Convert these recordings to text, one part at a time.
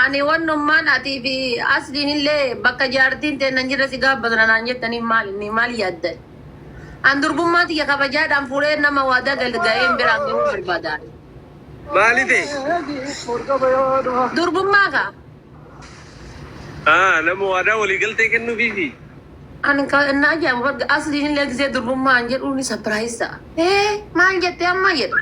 Ani wannummaan atii fi asliin illee bakka jaartiin teenna hin jirre si gaabbatna naan jettanii maal inni maal yaaddan? An durbummaa tiyya kabajaadhaan fuudhee nama waadaa galga'een biraan gahuu barbaada. Maali ta'e? Durbummaa kaa Ah, nama waadaa walii galtee kennuufiifi. an ka- na ajaa'ibu barga asliin illee gisee durbummaa an jedhuun sapiraayis ta'a. Ee maal jettee amma jedha.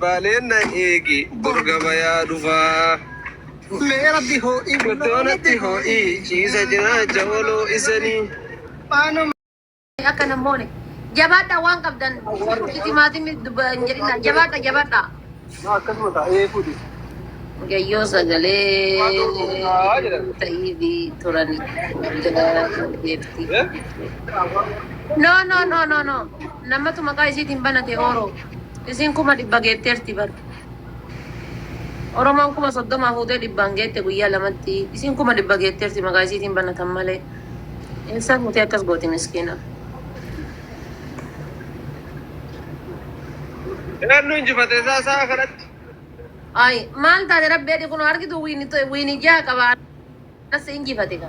Baaleen na eegi bor gabayaa dhufaa. Mee rabbi hoo'ii guddoo natti hoo'ii ciisa cinaacha oloo isanii. Faanuma. akka nan moone jabaadhaa waan qabdan shunkurtii timaatimii dubba hin jedhinaa jabaadha jabaadha Akkasuma taa'ee fuudhi. mucayyoo sagalee ta'iifi turani jala deebti no no no no no Namatu maqaa isiitiin banate oro. Isiin kuma dhibba geetteerti bar. Oromoon kuma soddoma fuutee dhibbaan geette guyyaa lamatti. Isiin kuma dhibba geetteerti maqaa isiitiin banatan malee. Eessaa fuutee akkas gooti miskiina. Eenyu injifate isaa isaa kanatti? Ay maal taate rabbi jedhi kunoo argitu wiini wiini ja'a qaba anas injifate ka.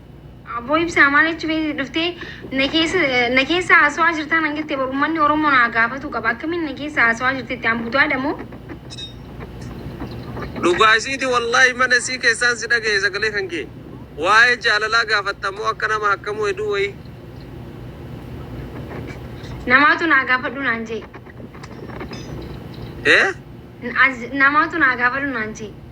Abboo ibsaa maal jechuu feetee dhuftee na keessa na keessa haasawaa jirtaan an jettee bar ummanni Oromoo naa gaafatuu qaba akkamiin na keessa haasawaa jirtetti an budaadha moo? Dhugaa isiiti wallaahi mana isii keessaan si dhagaye sagalee kan kee. Waa'ee jaalalaa gaafatta moo akka nama hakkamuu heduu wayii. Namaatu naa gaafadhu naan jee. Eh? N- as- Namaatu naa gaafadhu naan jee.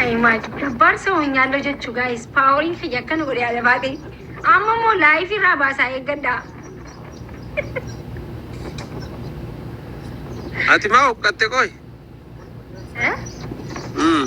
Ayi maali jabbaar soo nyaalloo jechuu gaayis paaworiin kiyya akka nu godhe yaada baatee amma immoo laayifii irraa baasaa eeggadhaa. Ati maa huqqatte qoy? Eh? Mm.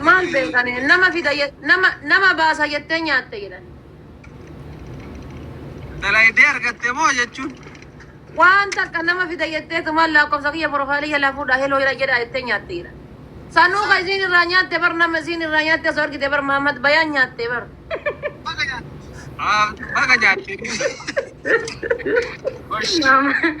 Maal beekani nama fida je- nama nama baasa jettee nyaatte jedhan. Dalaydee argatte moo jechuun. Waan takka nama fida jettee tumaan lakkoofsa kiyya profaayilii jalaa fuudhaa heloo jedha jedha jettee nyaatte jedhan. Sanuu ka isiin irraa nyaatte bar nama isiin irraa nyaatte osoo argite bar Mahammad Bayaan nyaatte bar. Baga nyaatte. Mahammad-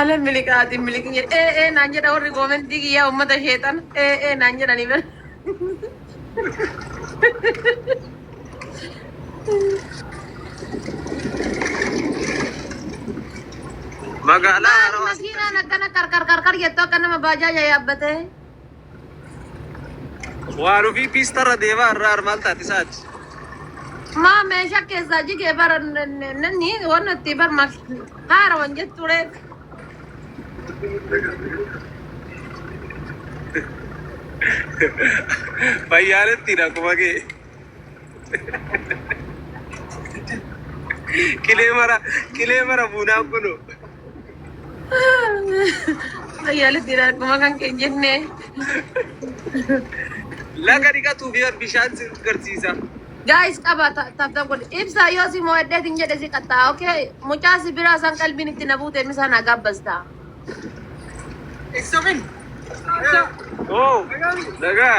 Ala miliqaati miliqni jedhe. Ee ee naan jedha warri koomentii kiyyaa uummata sheexan. Ee ee naan jedhanii bar. Magaalaa Maali Harawaa makiinaan akkana qarqar qarqar jettu akka nama baajaaja yaabbatee. Waa dhufii piistarra deemaa irraa armaan taati isaati. Maa meeshaa keessaa jigee bara nanni waan itti bar maal haara waan jettu reef. Fayyaalettiidha kuma kee. Qilee mara qilee mara buunaa kunu. Ayyaala dhiira akkuma kan kee jenne. Laga dhiqatuu fi bishaan si garsiisa. Guys qaba taphata godhe. Ibsa yoo si mo'adhee hin jedhe si qaxxaa. Okay. Mucaa si biraa san qalbiin itti na buute misaa naa gaabbasta. Eessamin? Oo. Lagaa.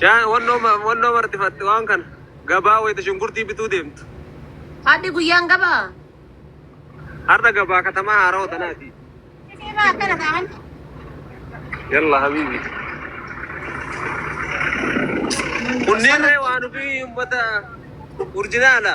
Shaan wannoo ma- wannoo marxifatte waan kana gabaa wayita shunkurtii bituu deemtu. Hadhi guyyaan gabaa. Har'a gabaa katamaa haarawa tanaati. Simaa akkana ta'an. Yalla habibi. Kunneen waan ofii ummata urjinaala.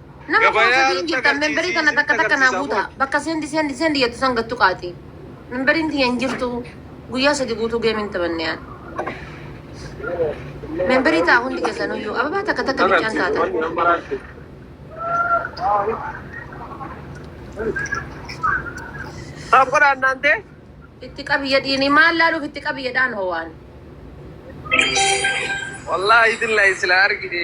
Nama Gabayaa koosa irratti diingeettan agarsiisii memberii kana isinitti takka takka naa agarsiisaa guuta. bulan. Bakka seendi seendi seendi jettu san gattu qaati. Memberiin tiyya hin jirtu. Guyyaa sadi guutuu geemiin taphanne yaa. Memberii ta'a hundi keessan iyyuu. Ababaa takka takka biccaan taata. Saaf godha annaan ta'e. Itti qabiyya dhiini maal laaluuf itti qabiyya dhaan howaan. Wallaahi billahi sila argite.